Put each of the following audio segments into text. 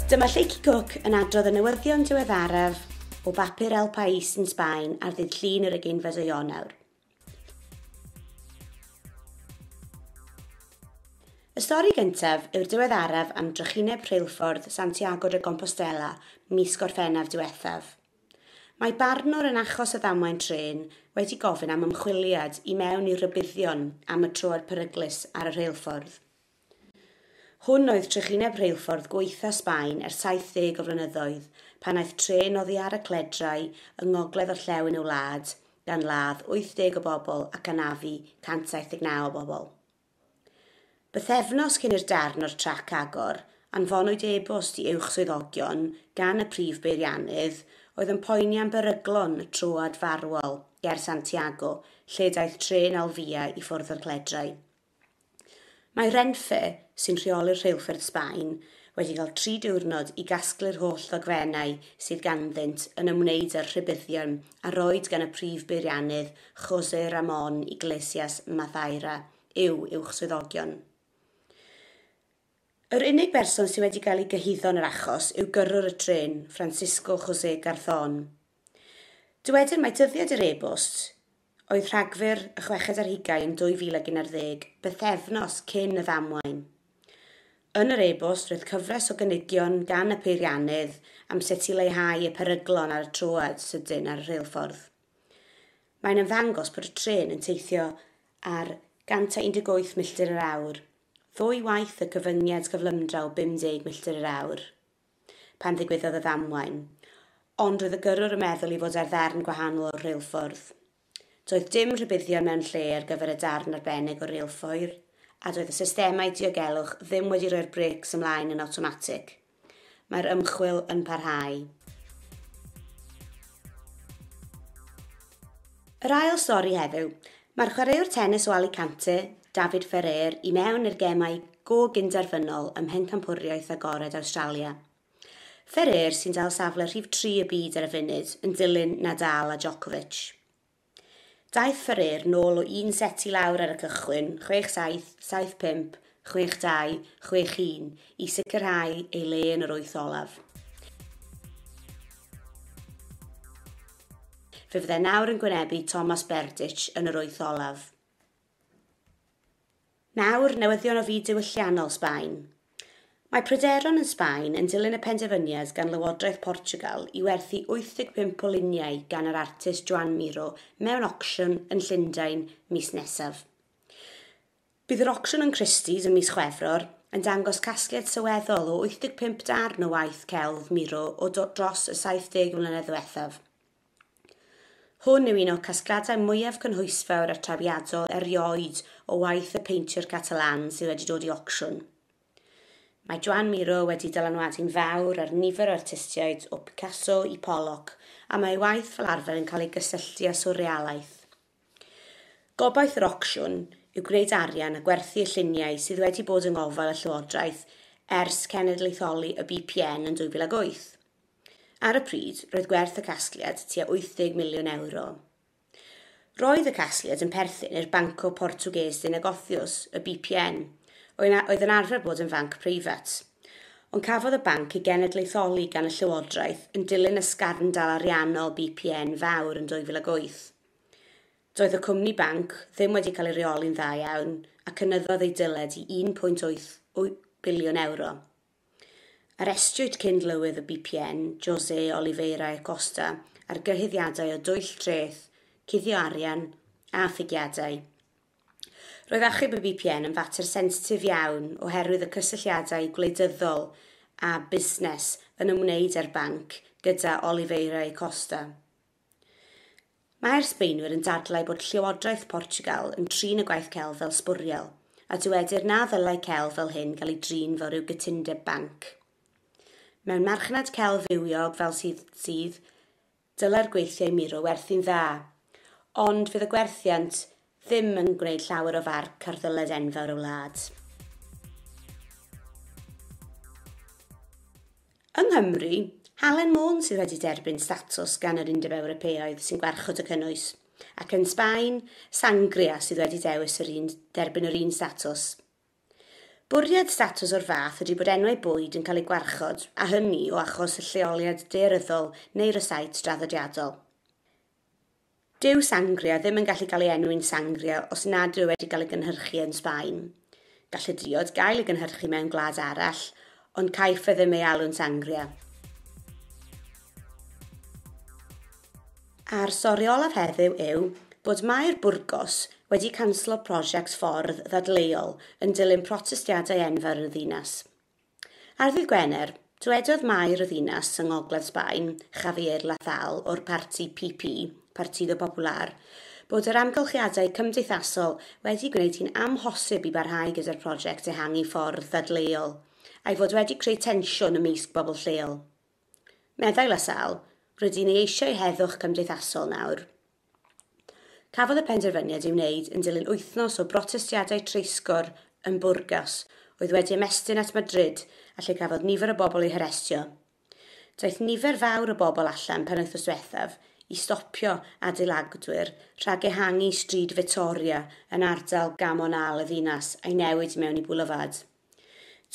Dyma Lleucu Cook yn adrodd y newyddion diweddaraf o bapur El País yn Sbaen ar ddydd Llun yr ugeinfed o Ionawr. Y stori gyntaf yw'r diweddaraf am drychineb rheilffordd Santiago de Compostela mis Gorffennaf diwethaf. Mae barnwr yn achos y ddamwain trên wedi gofyn am ymchwiliad i mewn i rybuddion am y troed peryglus ar y rheilffordd. Hwn oedd trychineb rheilffordd gwaetha Sbaen ers 70 o flynyddoedd, pan aeth trên oddi ar y cledrau yng ngogledd orllewin y wlad, gan ladd 80 o bobl ac anafu 179 o bobl. Bythefnos cyn i'r darn o'r trac agor, anfonwyd e-bost i uwch swyddogion gan y prif beiriannydd, oedd yn poeni am beryglon y troad farwol ger Santiago, lle daeth trên Alvia i ffwrdd o'r cledrau. Mae Renfe, sy'n rheoli'r rheilffyrdd Sbaen, wedi cael tri diwrnod i gasglu'r holl ddogfennau sydd ganddynt yn ymwneud â'r rhybuddion a roed gan y prif beiriannydd José Ramón Iglesias Maceira i'w uwch swyddogion. Yr unig berson sydd wedi cael ei gyhuddo yn yr achos yw gyrrwr y trên, Francisco José Garzón. Dywedir mai dyddiad yr e-bost Oedd Rhagfyr, y chweched ar hugain, 2011, bythefnos cyn y ddamwain. Yn yr e-bost roedd cyfres o gynigion gan y peiriannydd am sut i leihau y peryglon ar y troad sydyn ar y rheilffordd. Mae'n ymddangos bod y trên yn teithio ar 118 milltir yr awr, ddwy waith y cyfyngiad cyflymdra o 50 milltir yr awr. pan ddigwyddodd y ddamwain, ond roedd y gyrrwr yn meddwl i fod ar ddarn gwahanol o'r reilffordd. Doedd dim rhybuddion mewn lle ar gyfer y darn arbennig o reilffoir, a doedd y systemau diogelwch ddim wedi rhoi'r brêcs ymlaen yn awtomatig. Mae'r ymchwil yn parhau. Yr ail stori heddiw, Mae'r chwaraewr tenis o Alicante, David Ferrer, i mewn i'r gemau go gyn-derfynol ym Mhencampwriaeth Agored Awstralia. Ferrer sy'n dal safle rhif tri y byd ar y funud, yn dilyn Nadal a Djokovic. Daeth Ferrer nôl o un set i lawr ar y cychwyn, chwech saith, saith pump, 62, 61, i sicrhau ei le yn yr wyth olaf. Fe fyddai nawr yn gwynebu Thomas Berdych yn yr wyth olaf. Nawr, newyddion o fyd diwylliannol Sbaen. Mae pryderon yn Sbaen yn dilyn y penderfyniad gan Lywodraeth Portugal i werthu 85 o luniau gan yr artist Joan Miro mewn ocsiwn yn Llundain mis nesaf. Bydd yr ocsiwn yn Christie's ym mis Chwefror yn dangos casgliad sylweddol o 85 darn o waith celf Miro o dros y 70 mlynedd ddiwethaf. Hwn yw un o'r casgliadau mwyaf cynhwysfawr a trawiadol erioed o waith y peintiwr Catalan sydd wedi dod i ocsiwn. Mae Joan Miro wedi dylanwadu'n fawr ar nifer o artistiaid, o Picasso i Pollock, a mae ei waith fel arfer yn cael ei gysylltu â swrrealaeth. Gobaith yr ocsiwn yw gwneud arian a gwerthu y lluniau sydd wedi bod yng ngofal y Llywodraeth ers cenedlaetholi y BPN yn 2008. Ar y pryd, roedd gwerth y casgliad tua 80 miliwn ewro. Roedd y casgliad yn perthyn i'r Banco Portugués de Negocios, y BPN, oedd yn arfer bod yn fanc preifat. Ond cafodd y banc ei genedlaetholi gan y Llywodraeth yn dilyn ysgarndal ariannol BPN fawr yn 2008. Doedd y cwmni banc ddim wedi cael ei reoli'n dda iawn a cynyddodd ei dyled i €1.8 biliwn. Arestiwyd cyn-lywydd y BPN, José Oliveira e Costa, ar gyhuddiadau o dwyll treth, cuddio arian a ffygiadau. Roedd achub y BPN yn fater sensitif iawn oherwydd y cysylltiadau gwleidyddol a busnes yn ymwneud â'r banc gyda Oliveira e Costa. Mae'r Sbaenwyr yn dadlau bod Llywodraeth Portiwgal yn trin y gwaith celf fel sbwriel, a dywedir na ddylai celf fel hyn gael ei drin fel rhyw gytundeb banc. Mewn marchnad celf fywiog fel sydd sydd, dylai'r gweithiau muro werthu'n dda, ond fydd y gwerthiant Ddim yn gwneud llawer o farc ar ddyled enfawr y wlad. Yng Nghymru, Halen Môn sydd wedi derbyn statws gan yr Undeb Ewropeaidd sy'n gwarchod y cynnwys, ac yn Sbaen, Sangria sydd wedi dewis yr un, derbyn yr un statws. Bwriad statws o'r fath ydy bod enwau bwyd yn cael eu gwarchod, a hynny o achos y lleoliad daearyddol neu rysáit draddodiadol. Dyw sangria ddim yn gallu cael ei enwi'n sangria os nad yw e wedi cael ei gynhyrchu yn Sbaen. Gall y diod gael ei gynhyrchu mewn gwlad arall, ond caiff e ddim ei alw'n sangria. A'r stori olaf heddiw yw bod Maer Burgos wedi canslo prosiect ffordd ddadleuol yn dilyn protestiadau enfawr yn y ddinas. Ar ddydd Gwener, dywedodd Maer y ddinas yng ngogledd Sbaen, Javier Lathal o'r parti PP, Partido Popular, bod yr amgylchiadau cymdeithasol wedi gwneud hi'n amhosib i barhau gyda'r prosiect ehangu ffordd ddadleuol, a'i fod wedi creu tensiwn ymysg bobl lleol. Meddai Lathal, Rydyn ni eisiau heddwch cymdeithasol nawr. Cafodd y penderfyniad ei wneud yn dilyn wythnos o brotestiadau treisgor yn Burgos, oedd wedi ymestyn at Madrid a lle cafodd nifer o bobl eu harestio. Daeth nifer fawr o bobl allan penwythnos diwethaf i stopio adeiladwyr rhag ehangu Stryd Vittoria yn ardal Gamonal y ddinas a'i newid i mewn i Boulevard.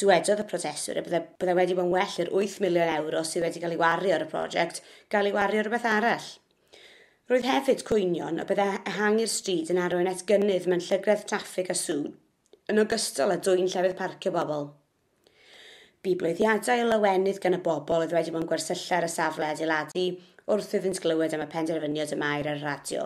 Dywedodd y prosiectwr y byddai byddai wedi bod yn well i'r wyth miliwn ewro sydd wedi cael ei wario ar y prosiect gael ei wario ar rywbeth arall. Roedd hefyd cwynion y byddai ehangu'r stryd yn arwain at gynnydd mewn llygredd traffig a sŵn, yn ogystal â dwyn llefydd parcio bobl. Bu bloeddiadau o lawenydd gan y bobl oedd wedi bod yn gwersylla ar y safle adeiladu wrth iddynt glywed am y penderfyniad y maer ar y radio.